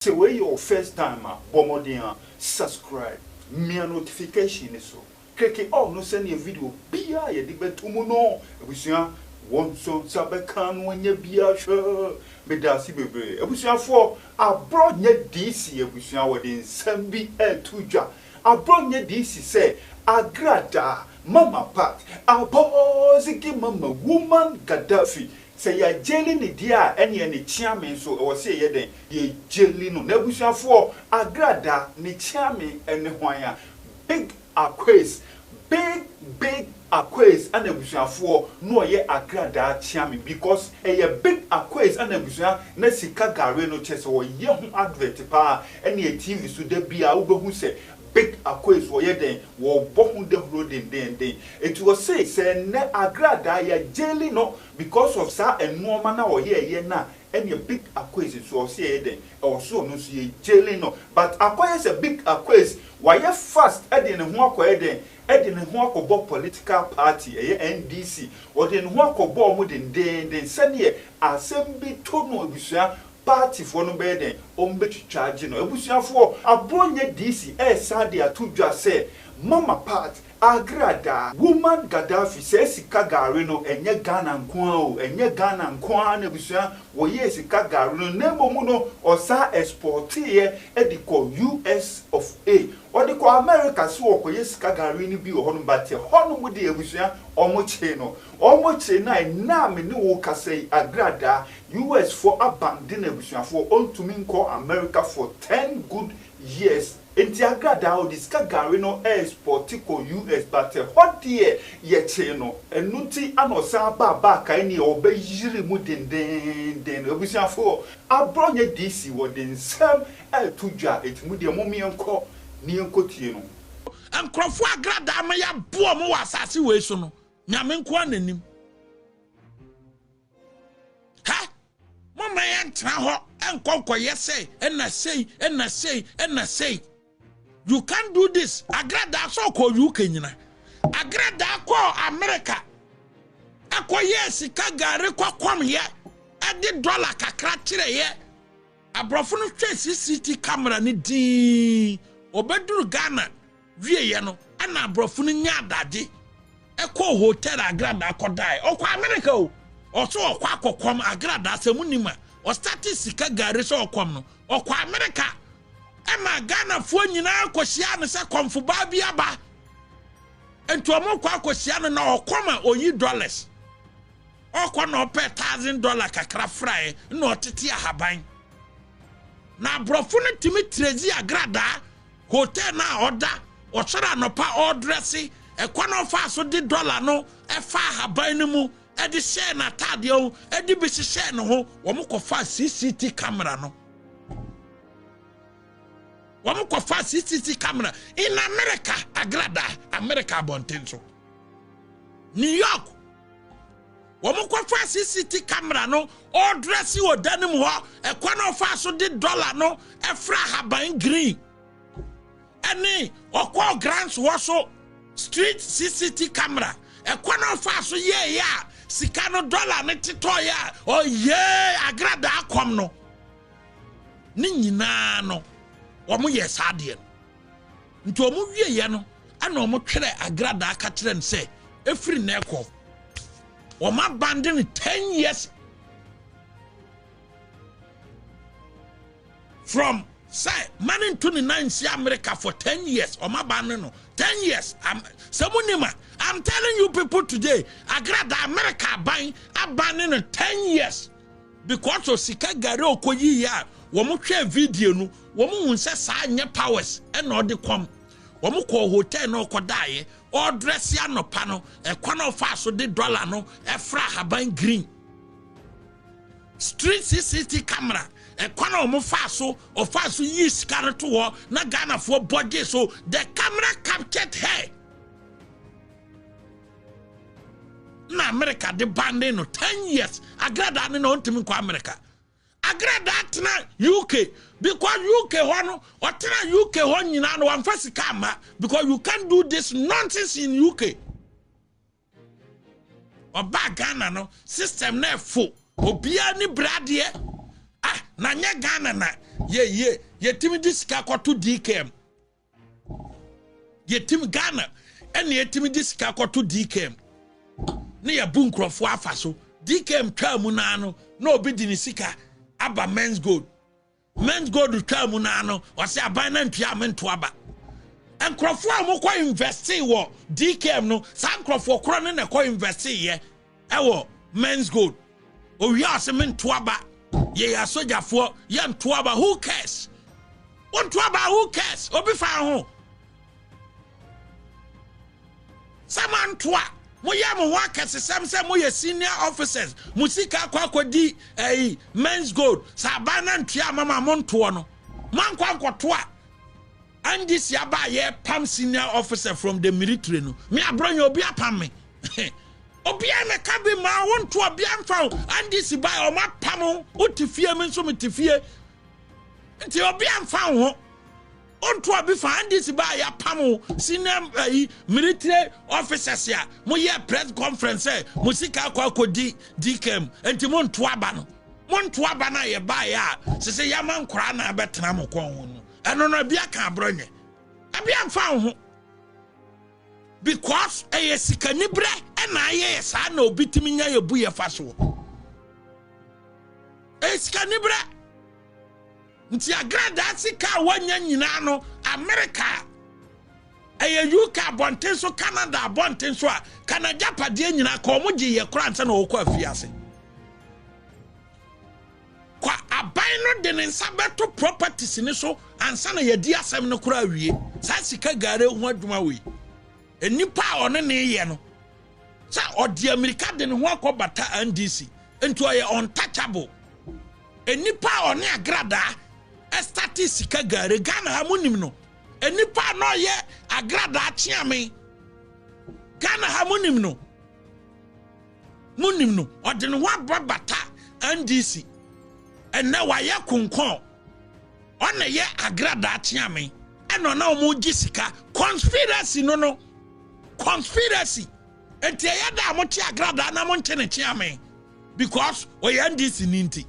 Sɛ wei yɛ wo first time a, bɔ mmɔden a subscribe, mia notification no so, kleke all no sɛdeɛ video biara a yɛde bɛto mu no, abusua, wo nso nsa bɛka na wanya bi ahwɛ. Medaase bebree. Abusuafoɔ, aborɔ nyɛ DC abusua, wɔde nsɛm bi reto dwa. Aborɔ nyɛ DC sɛ, Agrada, Mama Pat, Abɔɔzege Mama, Woman Gaddafi, Sɛ yɛ gyeli ne deɛ a ɛneɛ ne kyeame nso ɛwɔ sɛ yɛyɛ dɛn yɛ gyeli no n'abusuafoɔ agrada ne kyeame ɛne hwan a big akwes big big akwes ɛna abusuafoɔ no ɔyɛ agradaa kyeame because ɛyɛ big akwes ɛna abusua na sika gare no kyɛsɛ ɔyɛ ho advert paa ɛneɛ tv so da biaa wobɛhu sɛ Big Akoe so ɔyɛ dɛn? Wɔbɔ ho dawuro dendeenden. Eti ɔse sɛ nnɛ Agradaa yɛ jaili no because of saa nnoɔma no a ɔyɛɛyɛ no a, ɛneɛ Big Akoes nso ɔse yɛyɛ dɛn? Ɛwɔ so ɔno nso yɛ jaili no. But akɔyɛ sɛ Big Akoes wayɛ fast de ne ho akɔyɛ dɛn? De ne ho akɔbɔ political party, ɛyɛ NDC. Ɔde ne ho akɔbɔ wɔn dendeenden sɛdeɛ asɛm bi to no abusua Partyfoɔ no bɛyɛ dɛn? Wɔbɛtwitwa agye no. Abusuafoɔ, aboɔ nyɛ DC ɛresan de ato dwa sɛ Mama Pat, Agra daa, Woman Gaddafi saa sika gari no ɛnyɛ Ghana nko ara o, ɛnyɛ Ghana nko ara na abusua wɔyɛɛ sika gari no na mmom no ɔsan exporteeɛ de kɔ US of A. Ɔde kɔ America sɛ ɔrekɔyɛ sika gari no bi wɔ hɔnom but ɛhɔnom deɛ abusua wɔkyee no. Wɔkyee no a ɛnnɛ a me ne wo rekasa yi Agra daa US foɔ aban de n'abusuafoɔ ɔntumi nkɔ America for ten good years nti agradaa ɔde sika gari no ɛɛspɔte kɔ US but ɛhɔ deɛ yɛkyee no ɛno nti ana ɔsan baa back a ɛneɛ ɔbɛyiri mu dendennden abusuafoɔ abrɔ nyɛ DC wɔde nsɛm ɛɛto dwa ɛti mo deɛ mom yɛnkɔ ne yɛnkɔ tie no. Nkurɔfoɔ agradaa ma yɛaboa wɔn wɔ asase wei so no, Nyame nkoaa na nim. ha momma yɛntena hɔ ɛnkɔ nkɔyɛ sei ɛna sei ɛna sei ɛna sei you can do this agradaa sɛ ɔkɔ uk nyina agradaa kɔɔ amerika ɛkɔyɛɛ sika gare kɔkɔmyɛ ɛde dɔla kakra kyerɛeɛ aborɔfo no hwɛ cct camera no dii ɔbɛduru ghana Wieeɛ no, ɛna aborɔfo no nyaa adagye kɔɔ hotel a Agradaa kɔdaeɛ. Ɔkɔ Amerika o! Ɔsɛ ɔkɔ akɔkɔm Agradaa, sɛ monim a, ɔstate sika gari sɛ ɔkɔm no. Ɔkɔ Amerika, ɛma Ghanafoɔ nyinaa kɔhyiaa no sɛ kɔmfobaa bi aba. Nti wɔkɔ akɔhyia no na ɔkɔm a ɔyi dollars. Ɔkɔ na ɔpɛ thousand dollar kakra fraeɛ na ɔtete ahaban. Na aborɔfo no tumi trɛzi Agradaa Hotel no a ɔda, ɔsɔre anɔpa ɔredrɛse, ɛkwan a ɔfaa so de dɔla no faa ahaban no mu de hyɛɛ n'ataadeɛ ho de bi hyehyɛɛ ne ho, wɔkɔfaa CCT camera no. Wɔkɔfaa CCT camera in America, Agrada, America abɔnten so. New York, wɔn kɔfa cct camera no ɔdrɛse wɔ dan no mu hɔ ɛkwan a ɔfaa so de dɔla no ɛfra ahaban green ɛne ɔkɔɔ grants hɔ so street cct camera ɛkwan a ɔfaa so yɛɛyɛ a sika no dɔla no tetɔeɛ a ɔyɛɛ agradaa kɔm no ne nyinaa no wɔn yɛ saa adeɛ no Nti ɔmo wieɛ no, ɛna ɔmo twerɛ agradaa ka kyerɛ no sɛ, ɛfiri nnɛ rekɔ, ɔmo abande no 10 years from sɛ ma ne nto ne nan nsi america for 10 years ɔma ba ne no 10 years am sɛ mo nim a i'm telling you people today agrada america aban aban ne no 10 years Because of sika gari a ɔkɔyiiɛ a wɔn hwɛɛ video no wɔn hun sɛ saa nyɛ powers ɛna ɔde kɔm. Wɔn kɔɔ hotel na ɔkɔdaaeɛ ɔredrɛse anɔpa no ɛkwan a ɔfaa so de dollar no ɛfra ahaban green. Street CCT camera ɛkwan a wɔn faa so ɔfaa so yii sika no to hɔ na Ghanafoɔ bɔ gyee so the camera captured her. na amerika de ba ne no 10 years agradaa ne na ɔntumi nkɔ amerika agradaa tena uk because uk hɔ no ɔtena uk hɔ nyinaa no wamfa sika amma because you can do this nonsense in uk ɔbaa ghana no system na ɛfo obiara ne bradeɛ ah na nyɛ ghana na yɛyie yɛtumi de sika kɔto dkm yɛtim ghana ɛne ɛtumi de sika kɔto dkm ne yɛbu nkurɔfoɔ afa so dkm twaa mu naa no na obi de ne sika aba mens gold mens gold twaa mu naa no ɔsɛ aban na ntua a mento aba nkurɔfoɔ a wɔkɔ investe wɔ dkm no saa nkurɔfoɔ korɔ ne na ɛkɔ investe yɛ ɛwɔ men's gold owia ɔse me ntoaba yɛyɛ asogyafoɔ yɛ ntoaba who cares wo ntoaba who cares obi fa ho sɛ mantoa moyɛ mo ho akɛsesɛm sɛ moyɛ senior officers mo sika akɔ akɔdi ɛyi men's gold sɛ aban no antua ama ma montoɔ no moankɔ ankɔtoa ndc aba a yɛ pam senior officer from the military no me abronya obi apam me obiara na ka bi ma wo nto obiara mfa wo ndc ba ɔmo apam wo te fie me nso me te fie nti obiara mfa wo ho onto obi fa ndc ba yɛ apam wo senior ayi eh, military officers a mo yɛ press conference ɛ eh, mo sika akɔ akɔdi dkm nti mo nto aba no mo nto aba no a yɛ baeɛ a sɛ sɛ yɛama nkoraa na abɛtena mo kɔn ho no ɛno no ebi aka aborɔ nyɛ ebi amfa wo ho because ɛyɛ sikaniberɛ ɛna ayɛ yɛ saa na obi tumi nya yɛ bu yɛ fa soɔ ɛyɛ sikaniberɛ nti agradaa sika a wɔanya nyinaa no amerika ɛyɛ uk abɔnten so canada abɔnten so a kanagya padeɛ nyinaa ka wɔn gye yɛ koraa nsa na wɔkɔ afie ase. Kwa aban no de ne nsa bɛto properties no so ansa na yɛadi asɛm no koraa awie. Saa sika gare ho adwuma wei, nnipa a ɔne ne yɛ no, sɛ ɔde amirika de ne ho akɔ bata NDC, nti ɔyɛ untouchable. Nnipa a ɔne agradaa ɛstate sika gare Ghana ha mo nim no. Nnipa a na ɔyɛ agradaa kyeame Ghana ha mo nim no. Monim no, ɔde ne ho abɔ bata NDC. Ɛnnɛ wayɛ konkɔn. Ɔna yɛ agradaa kyeame. Ɛna ɔna wɔn gye sika. Conspiracy no no. Conspiracy. Nti ɛyɛ da a mo kye agradaa na mo nkye ne kyeame. Because ɔyɛ NDC ni nti.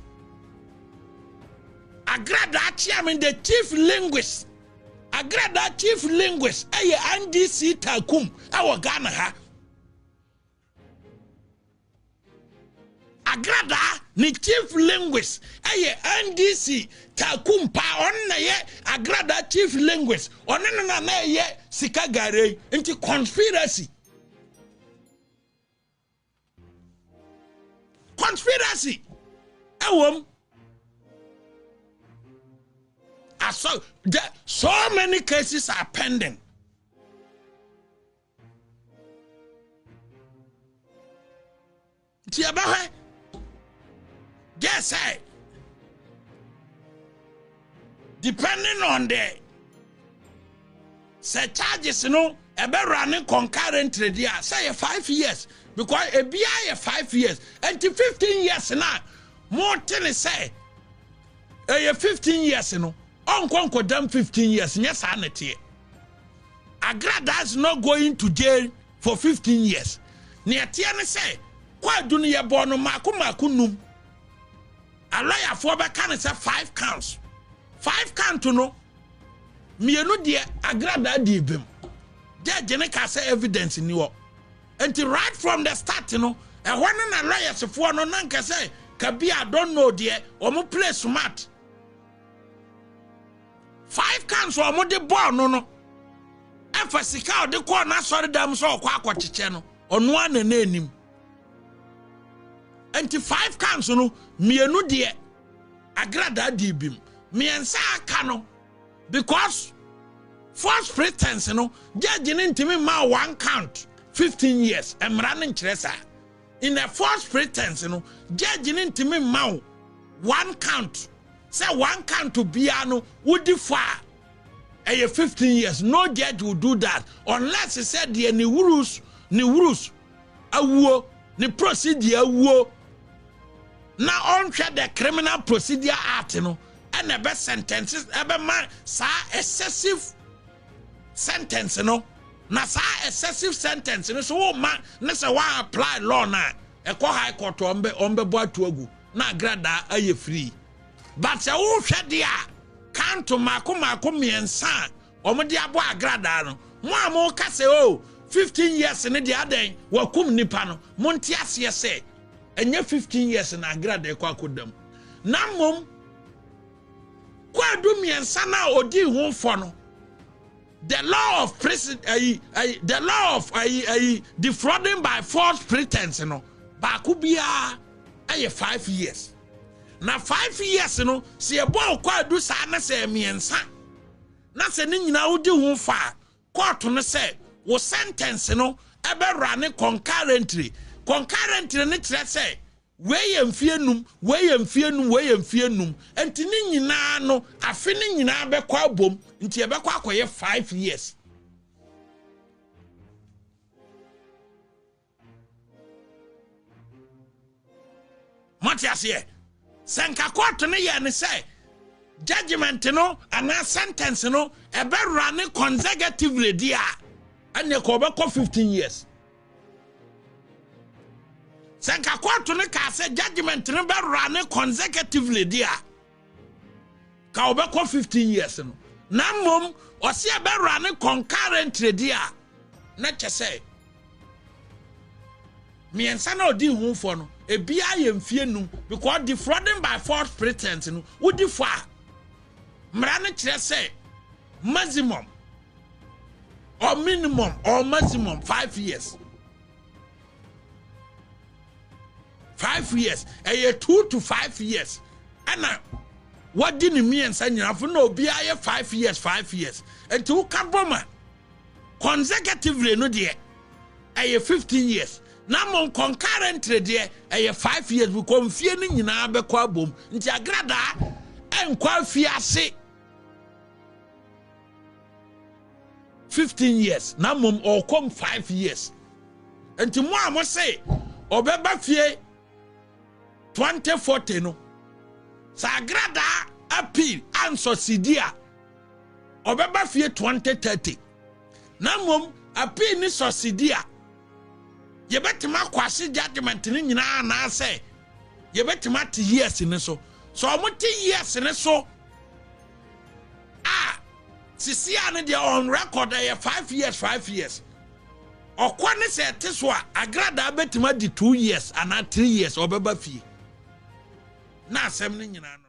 Agradaa kyeame the chief linguist. Agradaa chief linguist ɛyɛ NDC Takum ɛwɔ Ghana ha. Agradaa ne chief linguist yɛ NDC Taku Mpaa, ɔno na yɛ Agradaa chief linguist, ɔne no na na ɛyɛ sika gare yi, nti conspiracy. Conspiracy ɛwom. So many cases are pending. nti yɛbɛhwɛ dɛ sɛ depending on the sɛ charges no ɛbɛwura ne concurrently deɛ a sɛ yɛ five years because ebiara yɛ five years nti fifteen years na mo te ne sɛ ɛyɛ fifteen years no ɔnkɔ nkɔdam fifteen years nyɛ saa na ɛteɛ. Agra does not go into jail for fifteen years. Nea ɛteɛ ne sɛ kwaadu no yɛbɔɔ no mmaako mmaako nnum. Alɔyafoɔ bɛka no sɛ five counts. Five count no mmienu deɛ agradaa dii bem. Judge no kaa sɛ evidence nni hɔ. Nti right from the start no ɛhɔ no na lɔyɛsefoɔ no na nka sɛ kabi a don't know deɛ wɔn play smart. five cans a wɔde bɔɔ no no ɛfa sika a ɔde kɔɔ n'asɔredam sɛ ɔkɔ akɔkyekyɛ no ɔno ara na na anim nti five cans no mmienu deɛ agradaa dii bi mu mmiɛnsa aka no because first pretense no judge no ntumi mmaa one count fifteen years mmara no nkyerɛ saa In the first pretense no, judge no ntumi mma wo one count sɛ one count biara no wodi fɔ a ɛyɛ 15 years. No judge will do that unless sɛ deɛ ne rules ne rules awuo ne procedure awuo na ɔnhwɛ the criminal procedure act no ɛna ɛbɛ sentence ɛbɛma saa excessive sentence no na saa excessive sentence no so woma ne sɛ wa apply law no a ɛkɔ high court ɔmbɛbɔ ato agu na agradaa ayɛ free but sɛ wohwɛ deɛ a kanto mako mako mmiɛnsa a wɔde abɔ agradaa no mo a moka sɛ o oh, 15 years ne deɛ adɛn wakum nipa no monte aseɛ sɛ ɛnyɛ 15 years na agradaa kɔ akɔdam na mmom Kwaadu mmiɛnsa no a ɔdii ho fɔ no the law of prison ayi ayi the law of ayi ayi defrauding by false pretense no baako biara ɛyɛ five years na five years no sɛ ɛbɔ ɔkɔ adu saa na sɛ mmiɛnsa na sɛ ne nyinaa wodi ho fa a kɔɔto no sɛ wo sentence no ɛbɛwura ne concurrently concurrently no kyerɛ sɛ Wei yɛ mfeɛ nnum, wei yɛ mfeɛ nnum, wei yɛ mfeɛ nnum. Nti ne nyinaa no, afe no nyinaa bɛkɔ abom. Nti ɛbɛkɔ akɔyɛ five years. Mote aseɛ? Sɛ nka kɔɔto no yɛ ne sɛ judgment no anaa sentence no ɛbɛwura ne consecutively deɛ a, ɛnneɛ kɔ ɔbɛkɔ fifteen years. Sɛ nka kɔɔto no kaa sɛ judgment no bɛwura ne consecutively de a ka wɔbɛkɔ 15 years no na mmom ɔse ɛbɛwura ne concurrently de a na kyɛ sɛ mmiɛnsa na ɔdi ho fɔ no ebiara yɛ mfie num because defrauding by false pretense no wodi fɔ a Mmara no kyerɛ sɛ maximum or minimum or maximum five years. Five years. Ɛyɛ two to five years. Ɛna wɔdi ne mmiɛnsa nyinaa fo na obiara yɛ five years five years. Nti woka bɔ ma Consecutively no deɛ, ɛyɛ 15 years. Na mmom concurrently deɛ, ɛyɛ 5 years because mfie no nyinaa bɛkɔ abom. Nti agradaa ɛnkɔ afie ase 15 years na mmom ɔkɔm 5 years. Nti mo a mo se ɔbɛba fie 2040 no, sɛ agradaa appeal ansɔ sidi a, ɔbɛba fie 2030 na mmom apii ne sɔsidi a yɛbɛtumi akɔ ase judgment no nyinaa anaasɛ yɛbɛtumi ate years no so sɛ ɔmote years no so a sisi a no deɛ on record ɛyɛ five years five years ɔkɔ ne sɛ ɛte so a agradaa bɛtumi adi two years anaa three years ɔbɛba fie na asɛm no nyinaa no